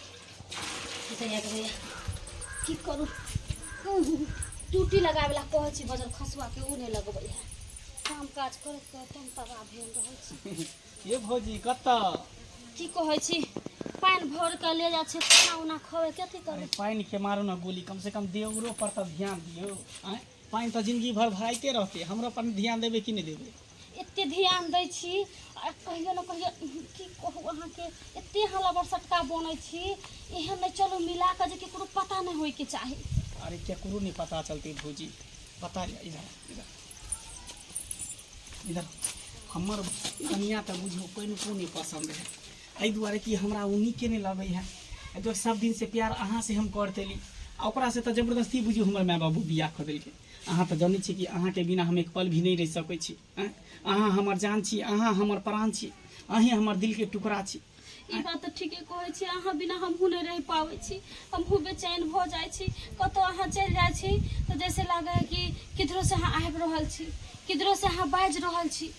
भैया के भैया की करू ड्यूटी लगाबे ला कहै छी बजल खसुआ के ऊ नहि लगबै है काम काज करैत करैत हम तबाह भेल रहै छी ये भौजी कत्ता की कहै छी पानि भर के ले जाइ छी खाना उना खोए के अथी अरे करबै पानि के मारो ना गोली कम से कम देवरो पर तब ध्यान दियो आँय? पानि तो जिंदगी भर भराइते रहते हमरो पर ध्यान देबे कि नहीं देबे एते ध्यान दै छी आ कहियो ने कहियो की कहू अहाँके एते अहाँ लबर सटका बनै छी एहन नहि चलू मिला कऽ जे ककरो पता नहि होइके चाही अरे केकरो नहीं पता चलती भौजी पता है इधर इधर इधर हमर कनिया तऽ बुझू कनिको नहि पसन्द है एहि दुआरे कि हमरा ओ नीके नहि लगै है एहि दुआरे सब दिन से प्यार अहाँ से हम करतेली आ ओकरा से तऽ जबरदस्ती बुझू हमर माय बाबू बियाह कऽ देलकै अहाँ तऽ जनै छी कि अहाँके बिना हम एक पल भी नहि रहि सकै छी आँय? अहाँ हमर जान छी अहाँ हमर प्राण छी अहीं हमर दिलके टुकड़ा छी ई बात तऽ ठीके कहै छी अहाँ बिना हमहूँ नहि रहि पाबै छी हमहूँ बेचैन भऽ जाइ छी कतौ अहाँ चलि जाइ छी तऽ जैसे लागै है कि किधरो से अहाँ आबि रहल छी किधरो से अहाँ बाजि रहल छी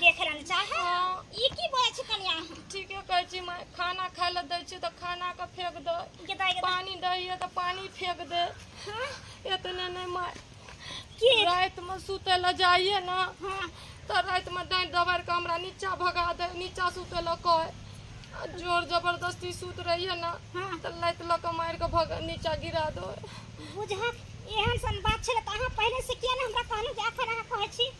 देख रहल चाहे हाँ। ई की बोलै छी कनिया ठीके कहै छी माय खाना खाय लए दै छियै तऽ खाना के फेंक दे गेदा गेदा पानी दै हियै तऽ पानी फेंक दे हाँ एतने नहि माय की रातिमे सुतै लए जाइए ने हाँ तऽ रातिमे डाँटि दबारि कऽ हमरा नीचा भगा दे नीचा सुतै लए कहै आ जोर जबरदस्ती सुत रहिए ने हाँ तऽ लाइत लऽ कऽ मारि कऽ भग नीचा गिरा दो बुझक एहन सन बात छलै तऽ अहाँ पहिले से किया ने हमरा कहलहुँ जे एखन अहाँ कहै छी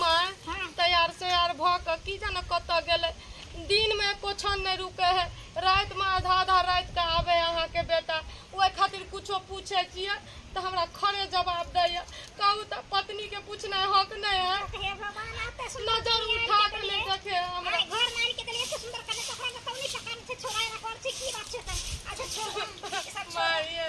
माय तैयार सैयार भऽ कऽ की जाने कतऽ गेलै दिनमे एको क्षण नहि रुकै है रातिमे आधा आधा राति कऽ आबै है अहाँके बेटा ओहि खातिर कुछो पूछै छियै तऽ हमरा खड़े जवाब दैया कहू तऽ पत्नीके पूछनाइ हक नहि है हे भगवान आप तो सुंदर नजर कनिया उठा के कऽ नहि लिए। देखे है हमरा आइ घर मान के देलिए से सुंदर कने तोरा में कौनी सकान से छोड़ा रखल छी की बात छै तऽ अच्छा छोड़ ई सब छोड़ माय ये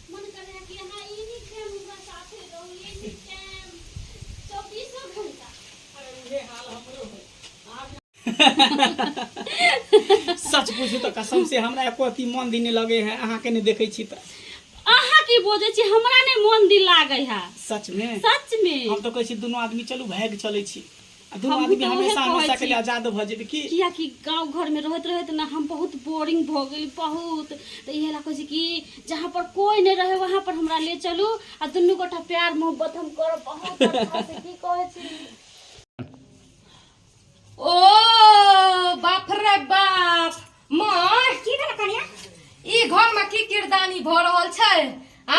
सच पूछू तो कसम से हमरा एको अति मन दिन नहीं लगे है अहाँ के नहीं देखे छी तो अहाँ की बोझे छी हमरा नहीं मन दिल लागे है सच में सच में हम तो कहे छी दोनों आदमी चलू भाग चले छी आ दुनू हमहूँ आदमी तऽ उहे हमेशा कहै हमेशा के छी। लिए आजाद भऽ जेबै की कियाकि गांव घर में रहत रहत ना हम बहुत बोरिंग भ गेली बहुत तो इहे ला कहै छी कि जहाँ पर कोई नहीं रहे वहाँ पर हमरा ले चलू आ दुनू गोटा प्यार मोहब्बत हम करब बहुत अच्छा से की कहै छी ओ बाप रे बाप माय की भेल कनिया ई घर में की किरदानी भ रहल छै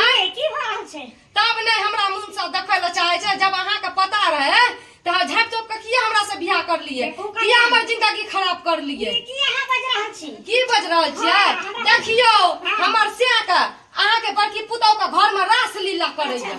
आय की भ रहल छै तब ने हमरा मुंह से देखै ल चाहे छै जब अहाँ के पता रहे त अहाँ झाप चोप के किया हमरा से बियाह कर लिए किया हमर जिंदगी खराब कर लिए की अहाँ बज रहल छी की बज रहल छियै हाँ, देखियो हाँ। हमर से के अहाँ के बड़की पुतौ के घर में रास लीला करे अच्छा।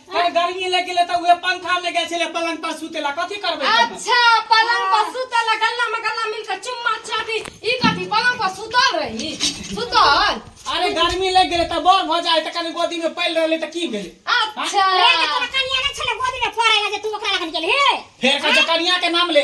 अरे गर्मी लग गेलै तऽ उहे पंखा में गेल छलै पलंग पर सुते ला कथी करबै तब? अच्छा पलंग पर सुतल आ गल्ला में गल्ला मिल के चुम्मा चाटी ई कथी पलंग पर सुतल रही सुतल अरे गर्मी लग गेलै तऽ बड़ भऽ जाइ तऽ कनि गोदी में पड़ि रहलै तऽ की भेलै अच्छा रे, तोरा कनिया नहि छलै गोदीमे पड़ै लए जे तू ओकरा लगन गेलही? फेर कह जकनिया के नाम ले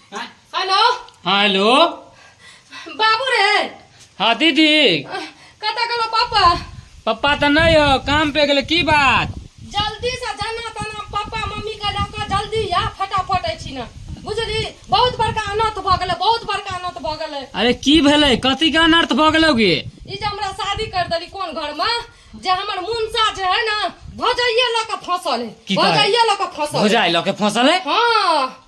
आय, हेलो हाँ हेलो बाबू रे हाँ दीदी कतऽ गेलो पापा पप्पा तो नहीं हो काम पे गेले की बात जल्दी से जाना ताना पापा मम्मी के लऽ कऽ जल्दी या फटाफट अछि ने बुझली बहुत बड़का अनर्थ भऽ गेलै बहुत बड़का अनर्थ भऽ गेलै अरे की भेले कथी के अनर्थ भऽ गेलो गे ई जे हमरा शादी कर देली कोन घर में जे हमर मुनसा जे है ना भौजाइये लऽ कऽ फसल है की कहै? भौजाइये लऽ कऽ फसल है। भौजाई लऽ के फसल है हाँ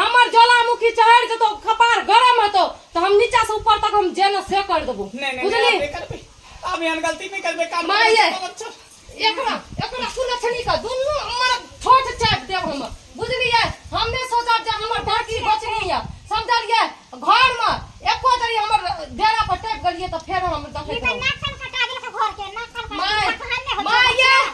हमर ज्वालामुखी चढ़ जेतो कपार गरम हेतो तो हम नीचा से ऊपर तक हम जेना से कर देबो बुझली अब एहन गलती नहीं करबे काम माय एकरा एकरा सुने छनी का दुनु हमर छोट चाट देब हम बुझलिए हम ने सोचब जे हमर ढाकी बचनी है समझलिए घर में एको जरी हमर डेरा पर टप गलिए तो फेर हम देखे